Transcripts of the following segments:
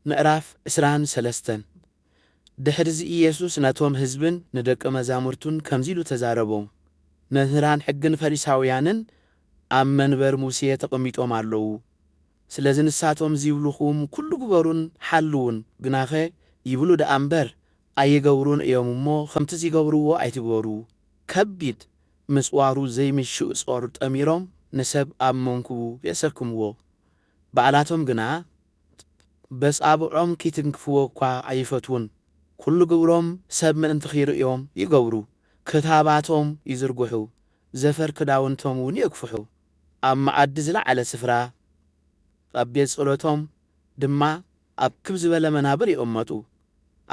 ምዕራፍ ዕስራን ሰለስተን ድሕርዚ ኢየሱስ ነቶም ህዝብን ንደቀ መዛሙርቱን ከምዚ ኢሉ ተዛረቦም፣ መምህራን ሕግን ፈሪሳውያንን ኣብ መንበር ሙሴ ተቐሚጦም ኣለዉ። ስለዚ ንሳቶም ዚብሉኹም ኵሉ ግበሩን ሓልዉን፣ ግናኸ ይብሉ ደኣ እምበር፣ ኣይገብሩን እዮም እሞ፣ ኸምቲ ዚገብርዎ ኣይትግበሩ። ከቢድ ምጽዋሩ ዘይምሽእ ጾር ጠሚሮም ንሰብ ኣብ መንኵቡ የሰክምዎ፣ ባዕላቶም ግና በጻብዖም ኪትንክፍዎ እኳ ኣይፈትዉን። ኵሉ ግብሮም ሰብ ምእንቲ ኺርእዮም ይገብሩ፣ ክታባቶም ይዝርግሑ፣ ዘፈር ክዳውንቶም እውን የግፍሑ። ኣብ መኣዲ ዝለዓለ ስፍራ፣ ኣብ ቤት ጸሎቶም ድማ ኣብ ክብ ዝበለ መናብር ይቕመጡ።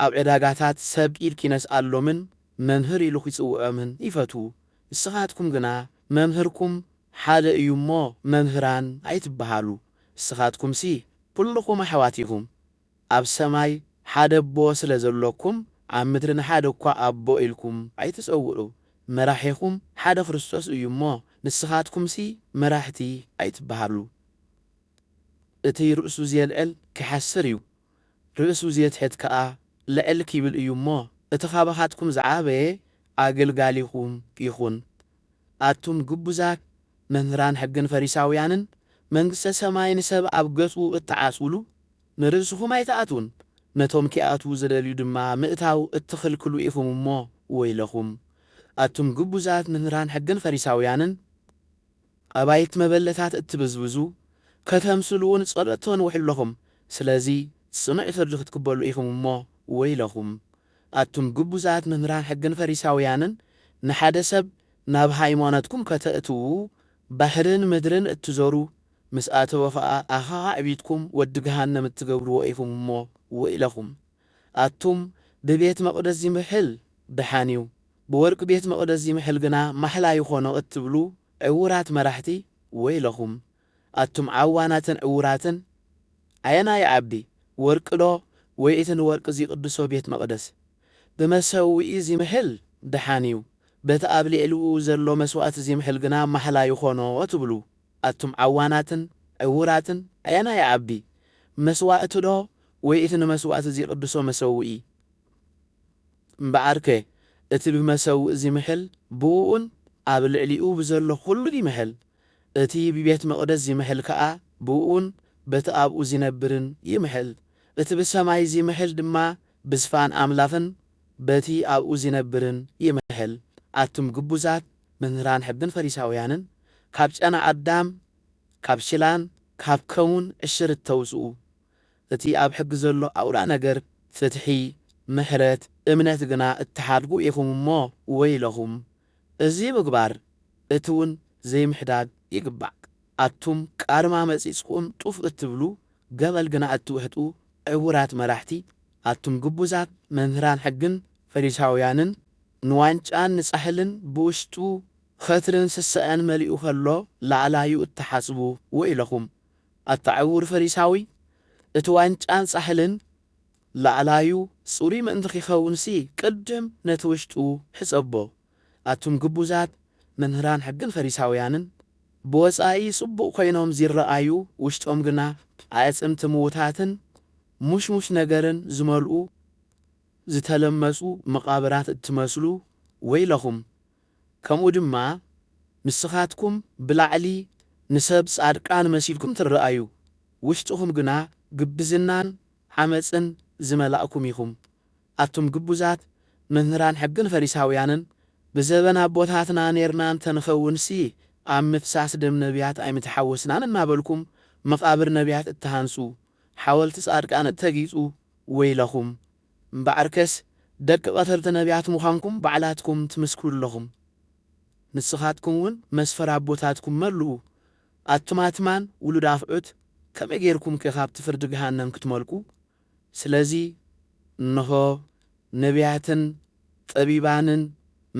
ኣብ ዕዳጋታት ሰብ ኢድ ኪነስኣሎምን መምህር ኢሉ ኺጽውዖምን ይፈትዉ፣ ንስኻትኩም ግና መምህርኩም ሓደ እዩ እሞ መምህራን ኣይትበሃሉ፣ ንስኻትኩምሲ ኵልኹም ኣሕዋት ኢኹም፣ ኣብ ሰማይ ሓደ ኣቦ ስለ ዘሎኩም፣ ኣብ ምድሪ ንሓደ እኳ ኣቦ ኢልኩም ኣይትጸውዑ፣ መራሒኹም ሓደ ክርስቶስ እዩ እሞ፣ ንስኻትኩምሲ መራሕቲ ኣይትበሃሉ። እቲ ርእሱ ዜልዕል ኪሓስር እዩ፣ ርእሱ ዜትሕት ከኣ ልዕል ኪብል እዩ እሞ፣ እቲ ኻባኻትኩም ዝዓበየ ኣገልጋሊኹም ይኹን። ኣቱም ግቡዛት መምህራን ሕግን ፈሪሳውያንን፣ መንግስተ ሰማይ ንሰብ ኣብ ገጹ እትዓጽዉሉ፣ ንርእስኹም ኣይትኣትዉን፣ ነቶም ኪኣትዉ ዚደልዩ ድማ ምእታው እትኽልክሉ ኢኹም እሞ ወይለኹም። ኣቱም ግቡዛት መምህራን ሕግን ፈሪሳውያንን፣ ኣባይት መበለታት እትብዝብዙ ከተምስሉውን ጸሎት ተንውሑ ኣሎኹም፣ ስለዚ ጽኑዕ ፍርዲ ክትቅበሉ ኢኹም እሞ ወይለኹም። ኣቱም ግቡዛት መምህራን ሕግን ፈሪሳውያንን፣ ንሓደ ሰብ ናብ ሃይማኖትኩም ከተእትዉ ባሕርን ምድርን እትዞሩ፣ ምስ ኣተወ ኸኣ ኣኻኻዕቢትኩም ወዲ ገሃነም እትገብርዎ ኢኹም እሞ ወይለኹም። ኣቱም ብቤት መቕደስ ዚምሕል ደሓን እዩ፣ ብወርቂ ቤት መቕደስ ዚምሕል ግና ማሕላ ይዀኖ እትብሉ ዕዉራት መራሕቲ፣ ወይለኹም። ኣቱም ዓዋናትን ዕዉራትን፣ ኣየናይ ይዓቢ፣ ወርቂዶ ወይ እቲ ንወርቂ ዚቕድሶ ቤት መቕደስ? ብመሰውኢ ዚምሕል ደሓን እዩ፣ በቲ ኣብ ልዕሊኡ ዘሎ መስዋእቲ ዚምሕል ግና ማሕላ ይዀኖ ትብሉ ኣቱም ዓዋናትን ዕዉራትን ኣየናይ ይዓቢ መስዋእቲ ዶ ወይ እቲ ንመስዋእቲ ዚቕድሶ መሰውኢ? እምበኣርከ እቲ ብመሰውኢ ዚምሕል ብእኡን ኣብ ልዕሊኡ ብዘሎ ዅሉን ይምሕል፣ እቲ ብቤት መቕደስ ዚምሕል ከኣ ብእኡን በቲ ኣብኡ ዚነብርን ይምሕል፣ እቲ ብሰማይ ዚምሕል ድማ ብዝፋን ኣምላኽን በቲ ኣብኡ ዚነብርን ይምሕል። ኣቱም ግቡዛት! መምህራን ሕግን ፈሪሳውያንን ካብ ጨና ኣዳም ካብ ሽላን ካብ ከሙን ዕሽርት ተውጽኡ እቲ ኣብ ሕጊ ዘሎ ኣውራ ነገር ፍትሒ ምሕረት እምነት ግና እትሓድጉ ኢኹም እሞ ወይለኹም እዚ ምግባር እቲውን ዘይምሕዳግ ይግባእ ኣቱም ቃርማ መጺጽኩም ጡፍ እትብሉ ገመል ግና እትውሕጡ ዕውራት መራሕቲ ኣቱም ግቡዛት መምህራን ሕግን ፈሪሳውያንን ንዋንጫን ንጻሕልን ብውሽጡ ኸትርን ስሰዐን መሊኡ ኸሎ ላዕላዩ እትሓስቡ ወይለኹም ኣታ ዕውር ፈሪሳዊ እቲ ዋንጫን ጻሕልን ላዕላዩ ጽሩይ ምእንቲ ኺኸውንሲ ቅድም ነቲ ውሽጡ ሕጸቦ ኣቱም ግቡዛት መምህራን ሕግን ፈሪሳውያንን፣ ብወጻኢ ጽቡቕ ኮይኖም ዚረኣዩ፣ ውሽጦም ግና ኣዕጽምቲ ምዉታትን ሙሽሙሽ ነገርን ዝመልኡ ዝተለመጹ መቓብራት እትመስሉ፣ ወይለኹም! ከምኡ ድማ ንስኻትኩም ብላዕሊ ንሰብ ጻድቃን መሲልኩም ትረኣዩ፣ ውሽጥኹም ግና ግብዝናን ዓመጽን ዝመላእኩም ኢኹም። ኣቱም ግቡዛት መምህራን ሕግን ፈሪሳውያንን ብዘበን ኣቦታትና ኔርና እንተንኸውንሲ ኣብ ምፍሳስ ደም ነብያት ኣይምተሓወስናን እናበልኩም መቓብር ነብያት እትሃንጹ ሓወልቲ ጻድቃን እተጊጹ ወይለኹም እምበኣርከስ ደቂ ቐተልቲ ነብያት ምዃንኩም ባዕላትኩም ትምስክሩ ኣለኹም ንስኻትኩም እውን መስፈር ኣቦታትኩም መልኡ ኣቱም ኣትማን ውሉድ ኣፍዑት ከመይ ጌርኩምከ ካብቲ ፍርዲ ገሃነም ክትመልቁ ስለዚ እንሆ፣ ነብያትን ጠቢባንን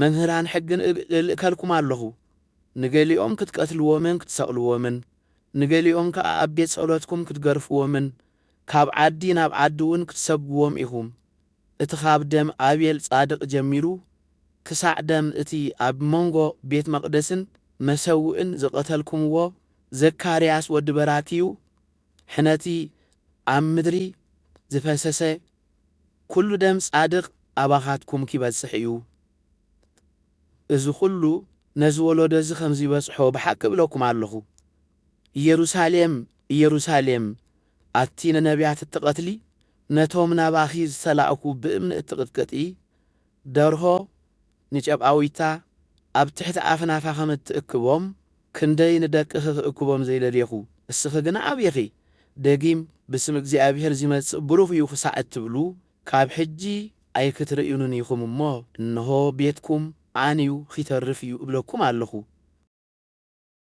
መምህራን ሕግን እልእከልኩም ኣሎኹ፣ ንገሊኦም ክትቀትልዎምን ክትሰቕልዎምን፣ ንገሊኦም ከኣ ኣብ ቤት ጸሎትኩም ክትገርፍዎምን ካብ ዓዲ ናብ ዓዲውን ክትሰጕዎም ኢኹም፣ እቲ ኻብ ደም ኣቤል ጻድቕ ጀሚሩ ክሳዕ ደም እቲ ኣብ መንጎ ቤት መቕደስን መሰውእን ዝቐተልኩምዎ ዘካርያስ ወዲ በራክዩ፣ ሕነቲ ኣብ ምድሪ ዝፈሰሰ ኩሉ ደም ጻድቅ ኣባካትኩም ኪበጽሕ እዩ እዚ ኩሉ ነዚ ወሎዶ እዚ ከምዚበጽሖ ብሓቂ እብለኩም ኣሎኩ ኢየሩሳሌም ኢየሩሳሌም ኣቲ ንነብያት እትቀትሊ ነቶም ናባኪ ዝተላእኩ ብእምኒ እትቅጥቅጢ ደርሆ ንጨቓዊታ ኣብ ትሕቲ ኣኽናፋ ከም እትእክቦም፣ ክንደይ ንደቅኺ ክእክቦም ዘይደሌኹ፣ እስኺ ግና ኣብኺ። ደጊም ብስም እግዚኣብሄር ዚመጽእ ቡሩኽ እዩ ኽሳዕ እትብሉ፣ ካብ ሕጂ ኣይክትርእዩንን ኢኹም እሞ፣ እንሆ፣ ቤትኩም ዓንዩ ኺተርፍ እዩ እብለኩም ኣሎኹ።